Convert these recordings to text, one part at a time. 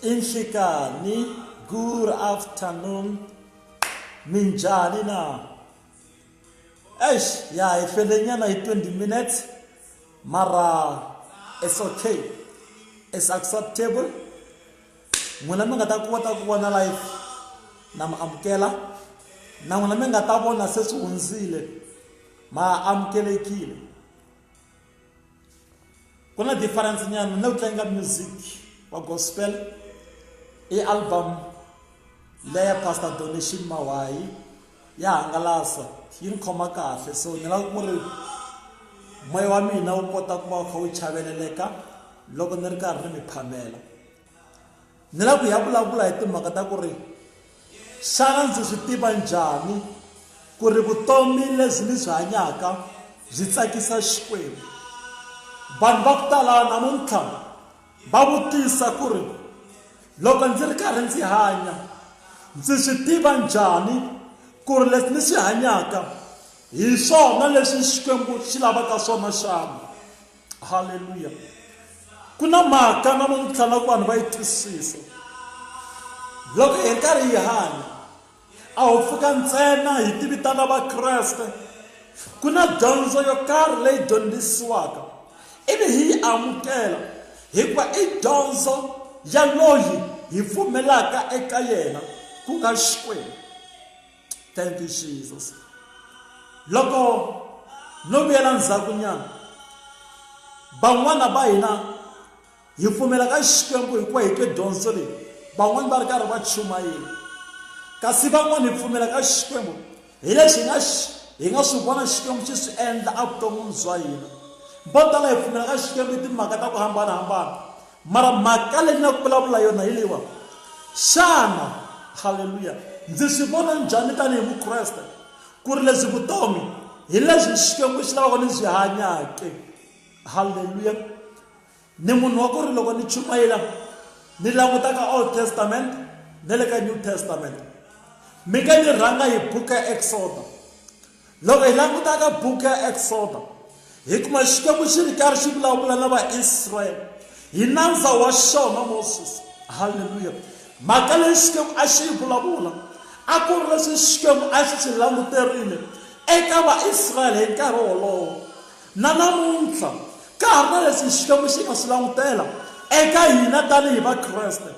Inhlikani, good afternoon. Minjani na? Eish, ya hi fele nyana hi 20 minutes. Mara it's okay. It's acceptable. N'wina mi nga ta kota ku vona live na mi amukela na n'wina mi nga ta vona se swi hundzile ma amukelekile ku na difference nyana na ku tlanga music wa gospel i album leya pastor donation mawayi ya hangalasa yi ni khoma kahle so ni lava ku ri moya wa mina wu kota ku va wu kha wu chaveleleka loko ni ri karhi ni mi phamela ni lava ku hi ya vulavula hi timhaka ta ku ri xana ndzi swi tiva njhani ku ri vutomi lebyi ni byi hanyaka byi tsakisa xikwembu vanhu va ku tala namuntlha va vutisa ku ri loko ndzi ri karhi ndzi hanya ndzi swi tiva njhani ku ri leswi ni swi hanyaka hi swona leswi xikwembu xi lavaka swona xana halleluya ku na mhaka namuntlha nga ku vanhu va yi twisisa loko hi karhi hi hanya a wu pfuka ntsena hi tivitana vakreste ku na dyondzo yo karhi leyi dyondzisiwaka ivi hi yi amukela hikuva i dyondzo ya loyi hi pfumelaka eka yena ku nga xikwembu Thank you, Jesus. Loko no vuyela ndzhaku nyana van'wana va hina hi pfumela ka xikwembu hi ku hi twe dyondzo leyi van'wana va ri karhi va chumayela kasi van'wana hi pfumela ka xikwembu hi lexi hi nga hi nga swi vona xikwembu xi swi endla evuton'wini bya hina vo tala hi pfumela ka xikwembu timhaka ta ku hambanahambana Mara mhaka leyi na ku vulavula yona hi leyiwa xana haleluya ndzi swi vona njhani tanihi mukreste ku ri lebyi vutomi hi lebyi xikwembu xi lavaka ni byi hanyake haleluya ni munhu wa ku ri loko ni chumayela ni langutaka old testament na le ka new testament mi nga ni rhanga hi buku ya exoda Loko hi languta ka buku ya Eksodo, hi kuma Xikwembu xi ri karhi xi vulavula na Vaisraele hi nandza wa xona Moses. Halleluya! Mhaka leyi Xikwembu a xi yi vulavula a ku ri leswi Xikwembu a xi swi languterile eka Vaisraele hi nkarhi wolowo. Na namuntlha, ka ha ri na leswi Xikwembu xi nga swi langutela eka hina tanihi Vakreste.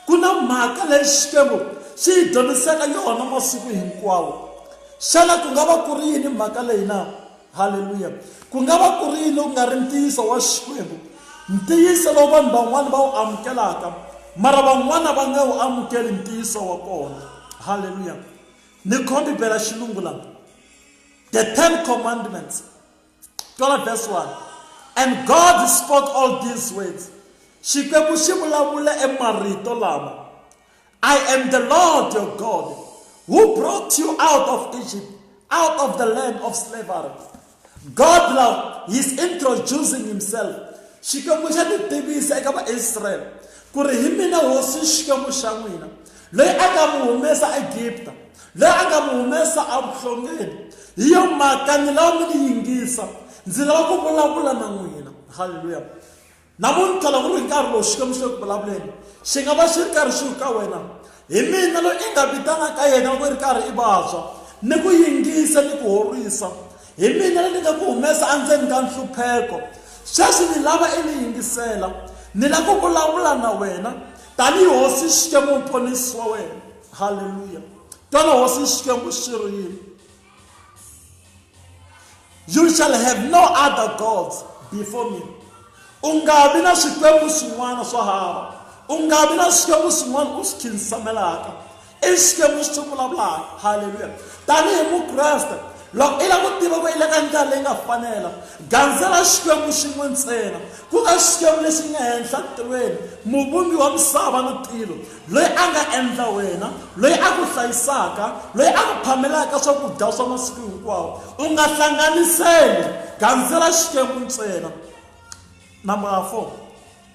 Ku na mhaka leyi Xikwembu xi hi dyondzisaka yona masiku hinkwawo. Xana ku nga va ku ri yini mhaka leyi na? Haleluya! Ku nga va ku ri yini loku nga ri ntiyiso wa Xikwembu, ntiyiso lowu vanhu van'wana va wu amukelaka mara van'wana va nga wu amukeli ntiyiso wa kona? Haleluya! Ni khombi bela xilungu laha. The Ten Commandments, 12 verse 1. And God spoke all these words. Xikwembu xi vulavula emarito lama. I am the Lord your God who brought you out of Egypt, out of the land of slavery. God love, he's introducing himself. Xikwembu xa titivisa eka Vaisrael ku ri hi mina hosi Xikwembu xa n'wina Loyi a nga mi humesa eEgipta, loyi a nga mi humesa evuhlongeni. Hi yo mhaka ni lava mi ni yingisa, ndzi lava ku vulavula na n'wina. Haleluya! Namuntlha loko ku ri nkarhi lowu Xikwembu xi le ku vulavuleni, xi nga va xi ri karhi xi ku ka wena, hi mina loyi i nga vitana ka yena loko i ri karhi i vabya, ni ku yingisa ni ku horisa. Hi mina loyi ni nga ku humesa endzeni ka nhlupheko. Sweswi ni lava i ni yingisela, ni lava ku vulavula na wena. tanihi hosi xikwembu muponisi wa wena halleluya twana hosi xikwembu xi ri yini you shall have no other gods before me u nga vi na swikwembu swin'wana swo hava u nga vi na swikwembu swin'wana u swi khinsamelaka I Xikwembu lexi xi vulavulaka. Haleluya. Tanihi Mukreste, loko i lava ku tiva ku i le ka ndlela leyi nga fanela, gandzela Xikwembu xin'we ntsena, ku nga Xikwembu lexi nga henhla tilweni, muvumbi wa misava ni tilo, loyi a nga endla wena, loyi a ku hlayisaka, loyi a ku phamelaka swakudya swa masiku hinkwawo. U nga hlanganiseli, gandzela Xikwembu ntsena. Number four.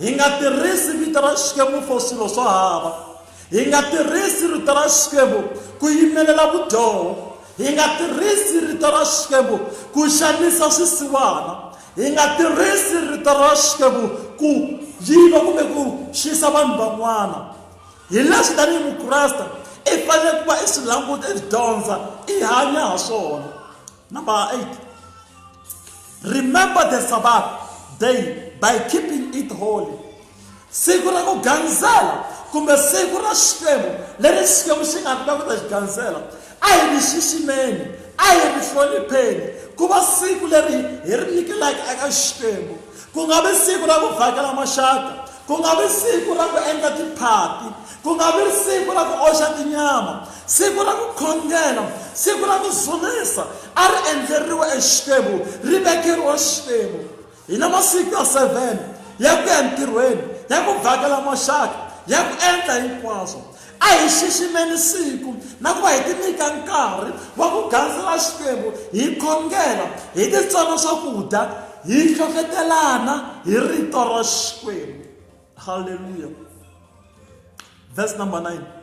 Hi nga tirhisi vito ra Xikwembu for swilo swo hava. Hi nga tirhisi rito ra Xikwembu ku yimelela vudyoho. Hi nga tirhisi rito ra Xikwembu ku xanisa swisiwana. Hi nga tirhisi rito ra Xikwembu ku yiva kumbe ku xisa vanhu van'wana. Hi leswi tanihi Mukreste i fanele ku va i swi languta i dyondza i hanya ha swona. Number eight, remember the Sabbath day by keeping it holy. siku ra ku gandzela kumbe siku ra xikwembu leri xikwembu xi nga ta ku ta xi gandzela a hi ri xiximeni a hi ri hlonipheni ku va siku leri hi ri nyikelaka eka xikwembu Ku nga vi siku ra ku vhakela maxaka, ku nga vi siku ra ku endla tiphati, ku nga vi siku ra ku oxa tinyama, siku ra ku khongela, siku ra ku dzunisa a ri endleriwa eXikwembu, ri vekeriwa Xikwembu. Hi na masiku ya seven ya ku ya entirhweni, ya ku vhakela maxaka, ya ku endla hinkwaswo. A hi xiximeni siku na ku va hi tinyika nkarhi wa ku gandzela Xikwembu hi khongela, hi titsona swakudya, hi hlohletelana hi Rito ra Xikwembu. Haleluya! Verse number 9.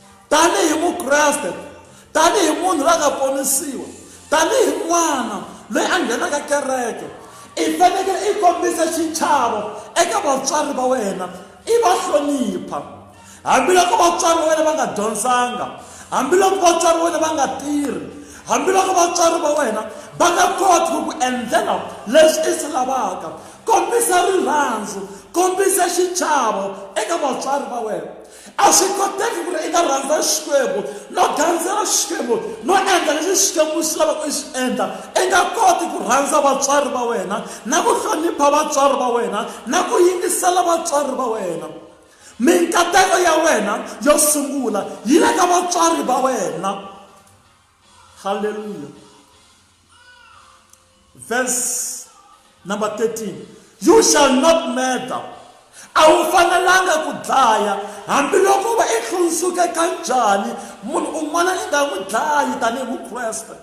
tanihi mukreste tanihi munhu la nga ponisiwa tanihi n'wana loyi a nghenaka kereke i fanekele i kombisa xichavo eka vatswari va wena i va hlonipha hambiloko vatswari va wena va nga dyondzanga hambiloko vatswari va wena va nga tirhi hambiloko vatswari va wena va nga koti ku ku endlela leswi i swi lavaka kombisa rirhandzu kombisa xichavo eka vatswari va wena A swi koteki ku ri i nga rhandza Xikwembu no gandzela Xikwembu no endla leswi Xikwembu xi lavaka i swi endla. I nga koti ku rhandza vatswari va wena na ku hlonipha vatswari va wena na ku yingisela vatswari va wena. Minkateko ya wena yo sungula yi le ka vatswari va wena. Haleluya! verse number 13 you shall not murder a wu fanelanga ku dlaya hambiloko va i hlundzuke ka njhani munhu un'wana i nga n'wi dlayi tanihi mukreste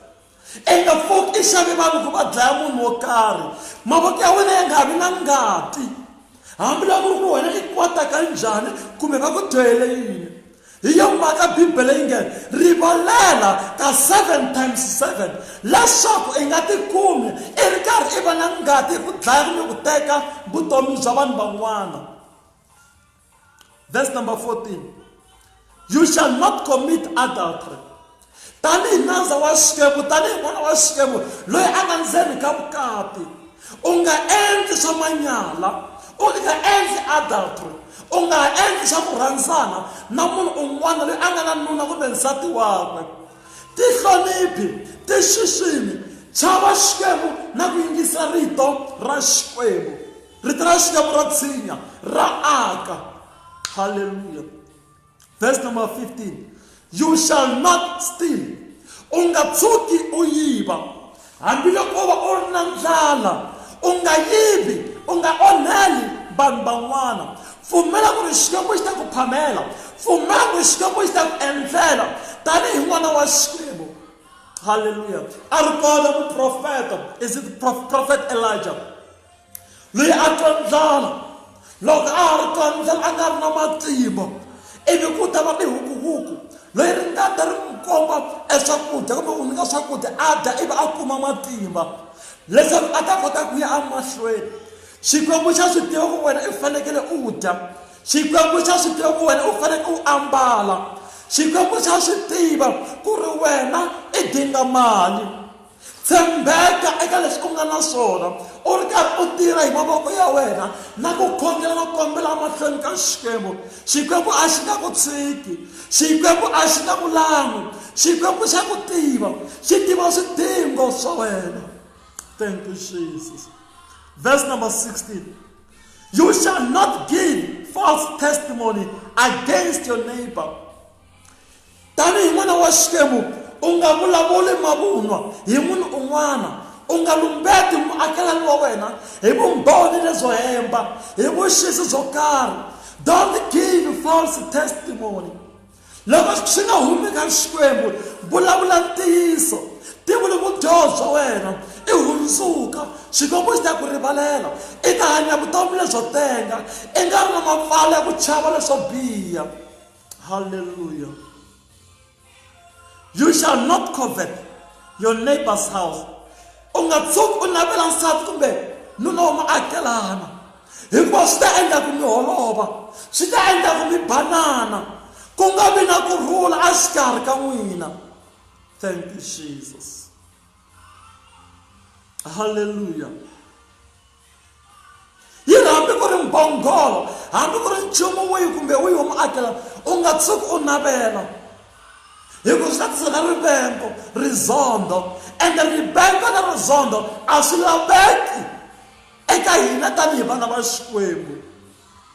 i nga pfuki i xavi vanhu ku va dlaya munhu wo karhi mavoko ya wena ya nga vi na ngati hambiloko ku ri wena i kota ka njhani kumbe va ku dyohele yini Hi yo mhaka Bibele yi nge, Rivalela ka seven times seven leswaku i nga tikumi i ri karhi i va na ngati hi ku dlaya kumbe ku teka vutomi bya vanhu van'wana. Verse number 14. You shall not commit adultery. Tanihi nandza wa Xikwembu, tanihi n'wana wa Xikwembu loyi a nga ndzeni ka vukati, u nga endli swa manyala, u nga endli adultery, u nga ha endli swa ku rhandzana na munhu un'wana loyi a nga na nuna kumbe nsati wakwe. Tihloniphi, ti xiximi, chava Xikwembu na ku yingisa rito ra Xikwembu. Rito ra Xikwembu ra tshinya, ra aka. Haleluya! verse number 15 you shall not steal u nga tshuki u yiva hambiloko u va u ri na ndlala u nga yivi u nga onheli vanhu van'wana pfumela ku ri xikwembu xi ta ku phamela pfumela ku ri xikwembu xi ta ku endlela tanihi n'wana wa xikwembu halleluya a ri kona muprofeta is it prophet elijah loyi a twa ndlala loko a ha ri twa ndlala a nga ri na matimba ivi ku ta va tihukuhuku loyi ri nga ta ri n'wi komba eswakudya kumbe ku nyika swakudya a dya ivi a kuma matimba leswaku a ta kota ku ya emahlweni xikwembu xa swi tiva ku wena i fanekele u dya xikwembu xa swi tiva ku wena u fanekele u ambala xikwembu xa swi tiva ku ri wena i dinga mali tshembeka eka leswi u nga na swona u ri karhi u tirha hi mavoko ya wena na ku khongela no kombela emahlweni ka xikwembu xikwembu a xi nga ku tshiki xikwembu a xi nga ku lan'wi xikwembu xa ku tiva xi tiva swidingo swa wena thank you jesus verse number 16 you shall not give false testimony against your neighbor tanihi n'wana wa xikwembu u nga vulavuli mavunwa hi munhu un'wana u nga lumbeti muakelani wa wena hi vumbhoni lebyo hemba hi vuxisi byo karhi don't give false testimony loko swi nga humi ka xikwembu vulavula ntiyiso tivuli vudyoho bya wena i hundzuka xikwembu xi ta ku rivalela i ta hanya vutomi lebyo tenga i nga ri na mapfalo ya ku chava leswo biha Hallelujah. You shall not covet your neighbor's house. U nga tshuki u navela nsati kumbe nuna wa muakelana hikuva swi ta endla ku mi holova swi ta endla ku mi banana ku nga vi na ku rhula a xikarhi ka n'wina thank you jesus halleluya yi ri hambi ku ri mbhongolo hambi ku ri nchumu wihi kumbe wihi wa muakelana u nga tshuki u navela hikuva swi ta tisela rivengo rizondo ende rivengo na rizondo a swi laveki eka hina tanihi vana va xikwembu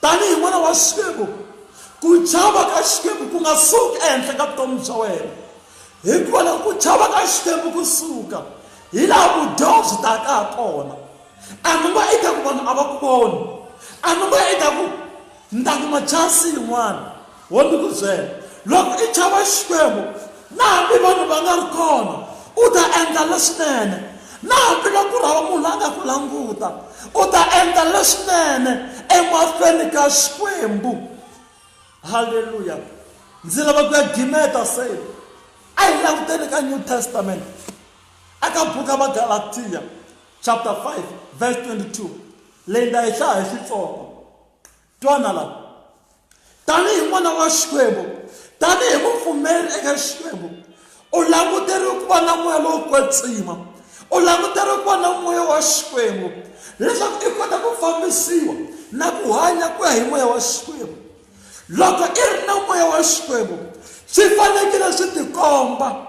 Tanihi n'wana wa Xikwembu, ku chava ka Xikwembu ku nga suki ehenhla ka vutomi bya wena, hikuva loko ku chava ka Xikwembu ku suka, hi laha vudyoho byi taka ha kona. A ni ngo i ta ku vanhu a va ku voni, a ni ngo i ta ku ni ta kuma chansi yin'wana. Wo ni ku byela, Loko i chava Xikwembu, na hambi vanhu va nga ri kona, u ta endla leswinene. Na hambi loko ku ri hava munhu la nga ku languta, u ta endla leswinene emahlweni ka Xikwembu. Haleluya! Ndzi lava ku ya gimeta se. A hi languteni ka New Testament, eka buku ya Magalatiya chapter 5 verse 22, leyi nda yi hlaya hi Xitsonga. twana la tanihi n'wana wa xikwembu tanihi mupfumeri eka xikwembu u languteriwe ku va na moya lowo kwetsima u languteriwe ku va na moya wa xikwembu leswaku i kota ku fambisiwa na ku hanya ku ya hi moya wa xikwembu loko i ri na moya wa xikwembu swi fanekele swi tikomba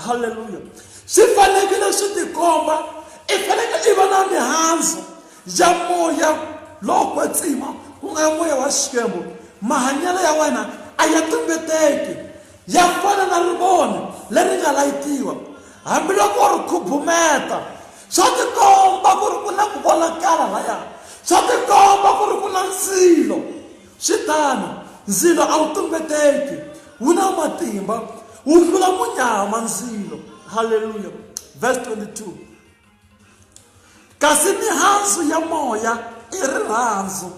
halleluya swi fanekele swi tikomba i fanekele i va na mihandzu ya moya lowo kwetsima ku nga moya wa xikwembu mahanyelo ya wena a ya tumbeteki ya fana na rivoni leri nga layitiwa hambiloko ri khubumeta swa tikomba ku ri ku na ku vonakala laya swa tikomba ku ri ku na ndzilo Swi tano, ndzilo a wu tumbeteki, wu na matimba, wu hlula munyama ndzilo. Haleluya. Verse 22. Kasi mihandzu ya moya i rirhandzu.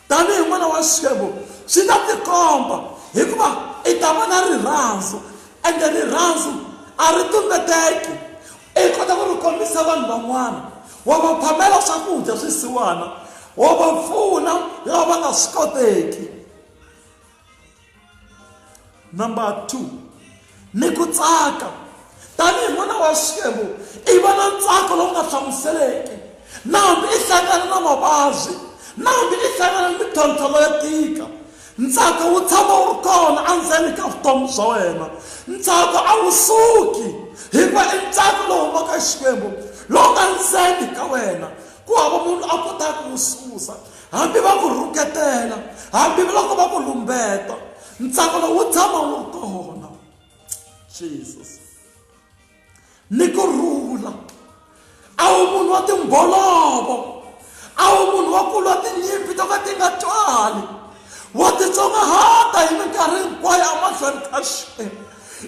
Tanihi n'wana wa Xikwembu, swi ta tikomba hikuva i ta va na rirhandzu, ende rirhandzu a ri tumbeteki. i kota ku ri kombisa vanhu van'wana wa va phamela swakudya swisiwana wa va pfuna lava nga swi koteki number two ni ku tsaka tanihi n'wana wa xikwembu i va na ntsako lowu nga hlamuseleki na hambi i hlangana na mavabyi na hambi i hlangana ni mintlhontlho leyo tika Ntsako wu tshama wu ri kona endzeni ka vutomi bya wena. Ntsako a wu suki, hikuva i ntsako lowu humaka hi Xikwembu lowu nga ndzeni ka wena. Ku hava munhu a kotaka ku wu susa, hambi va ku rhuketela, hambiloko va ku lumbeta, ntsako lowu wu tshama wu ri kona. Jesus. ni ku rhula a wu munhu wa timbolovo a wu munhu wa kulwa tinyimpi to ka ti nga twali wa titsongahata hi minkarhi hinkwayo emahlweni ka xi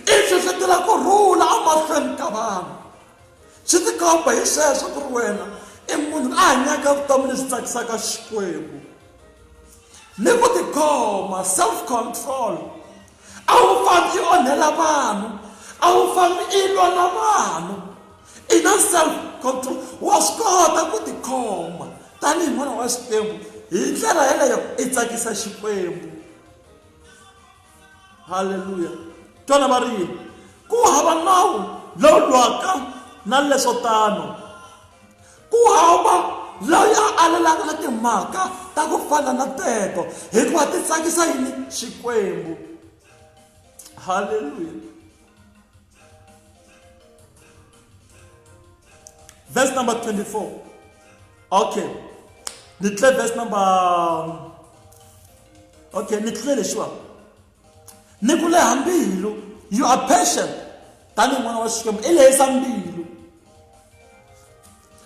i hlohletela ku rhula emahlweni ka vanhu swi tikomba hi sweswo ku ri wena i munhu a hanyaka vutomi lebyi tsakisaka xikwembu ni ku tikhoma self control a wu fambi i onhela vanhu a wu fambi i lwa na vanhu i na self control wa swi kota ku tikhoma tanihi n'wana wa xikwembu hi ndlela yeleyo i tsakisa xikwembu halleluya twana va ri yini ku hava nawu lowu lwaka na leswo tano ku hava loyi a alelaka na timhaka ta ku fana na teto hikuva ti tsakisa yini xikwembu halleluya Verse number 24. Okay. Nitle verse number um, Okay, nitle leshiwa. Nikule hambilu. You are patient. Tani mwana wa Xikwembu i lehisa mbilu.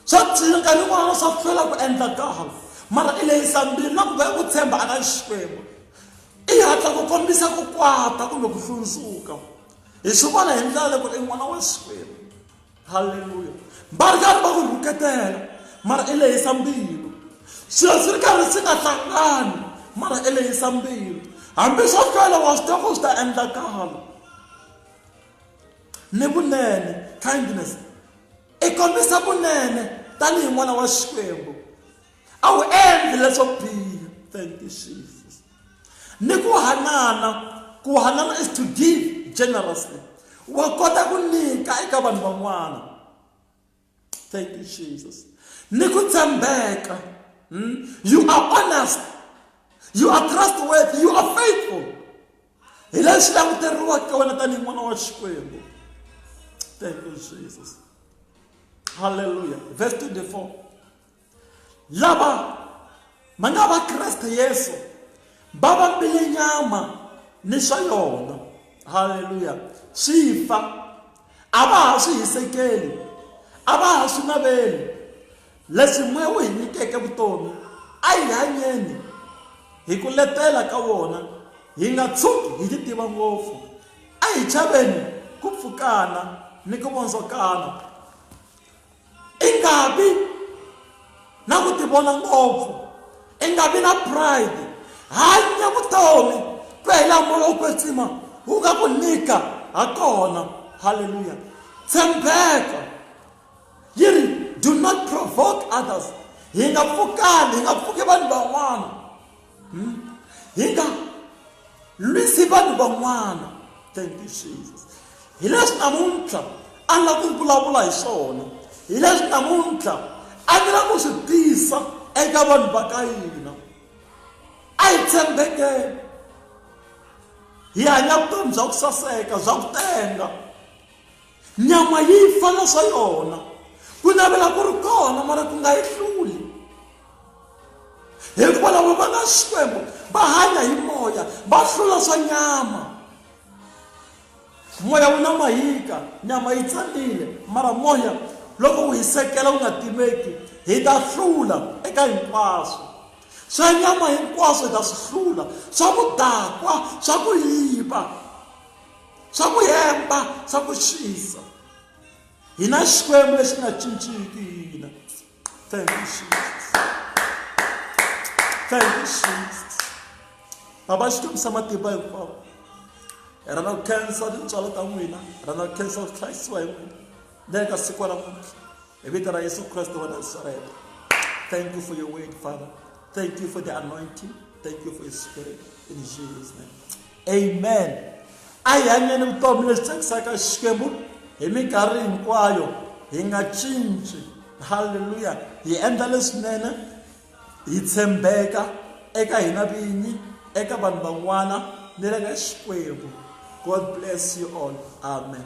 Swa tika nkarhi wun'wana swa hlwela ku endla kahle mara i lehisa mbilu na ku va ku tshemba aka Xikwembu. I hatla ku kombisa ku kwata kumbe ku hlundzuka. hi swi vona hi ndlela loko i n'wana wa xikwembu halleluya va ri karhi va ku rhuketela mara i lehisa mbilu swilo swi ri karhi swi nga hlangani mara i lehisa mbilu hambi swo hlwela wa swi tiva ku swi ta endlakala ni vunene kindness i kombisa vunene tanihi n'wana wa xikwembu a wu endli leswo biha thank you jesus ni ku hanana ku hanana is to give generously wa kota ku nyika eka vanhu van'wana thank you jesus ni ku tshembeka hmm? you are honest you are trustworthy you are faithful hi lexi languteriwaka ka wena tanihi n'wana wa xikwembu thank you jesus halleluya verse 24 lava ma nga va kreste yesu va vambile nyama ni swa yona halleluya swi fa a va ha swi hisekeli a va ha swi naveli leswi moya wu hi nyikeke vutomi a hi hanyeni hi ku letela ka wona hi nga tshuki hi ti tiva ngopfu a hi chaveni ku pfukana ni ku vondzokana i nga vi na ku tivona ngopfu i nga vi na pride hanya vutomi ku ya hi laha moya wu kwetsima wu nga ku nyika ha kona halleluya tshembeka yi ri do not provoke others hi nga pfukani hi nga pfuki vanhu van'wana hmm? hi nga lwisi vanhu van'wana thank you jesus hi leswi namuntlha a nga ku vulavula hi swona hi leswi namuntlha a ni la ku swi tisa eka vanhu va ka yina a hi tshembekeni hi hanya vutomi bya ku saseka bya ku tenga nyama yi fa na swa yona ku navela ku ri kona mara ku nga yi hluli hikuva lava va nga xikwembu va hanya hi moya va hlula swa nyama moya wu na mahika nyama yi tsanile mara moya loko wu hisekela wu nga timeki hi ta hlula eka hinkwaswo swa nyama hinkwaswo hi ta swi hlula swa ku dakwa swa ku yiva swa ku hemba swa ku xisa hi na xikwembu lexi nga cinciki hina thank you jesus thank you jesus baba xi kombisa matimba hinkwawo hi rhandza ku khensa tintswalo ta n'wina hi rhandza ku khensa ku hlayisiwa hi n'wina le ka siku ra muntlha hi vito ra yesu kreste wa nasareta thank you for your word father thank you for the anointing thank you for your spirit in jesus name Amen. A hi hanyeni vutomi lebyi tsakisaka Xikwembu hi minkarhi hinkwayo hi nga cinci. Haleluya. Hi endla leswinene hi tshembeka eka hina vinyi, eka vanhu van'wana ni le ka Xikwembu. God bless you all. Amen.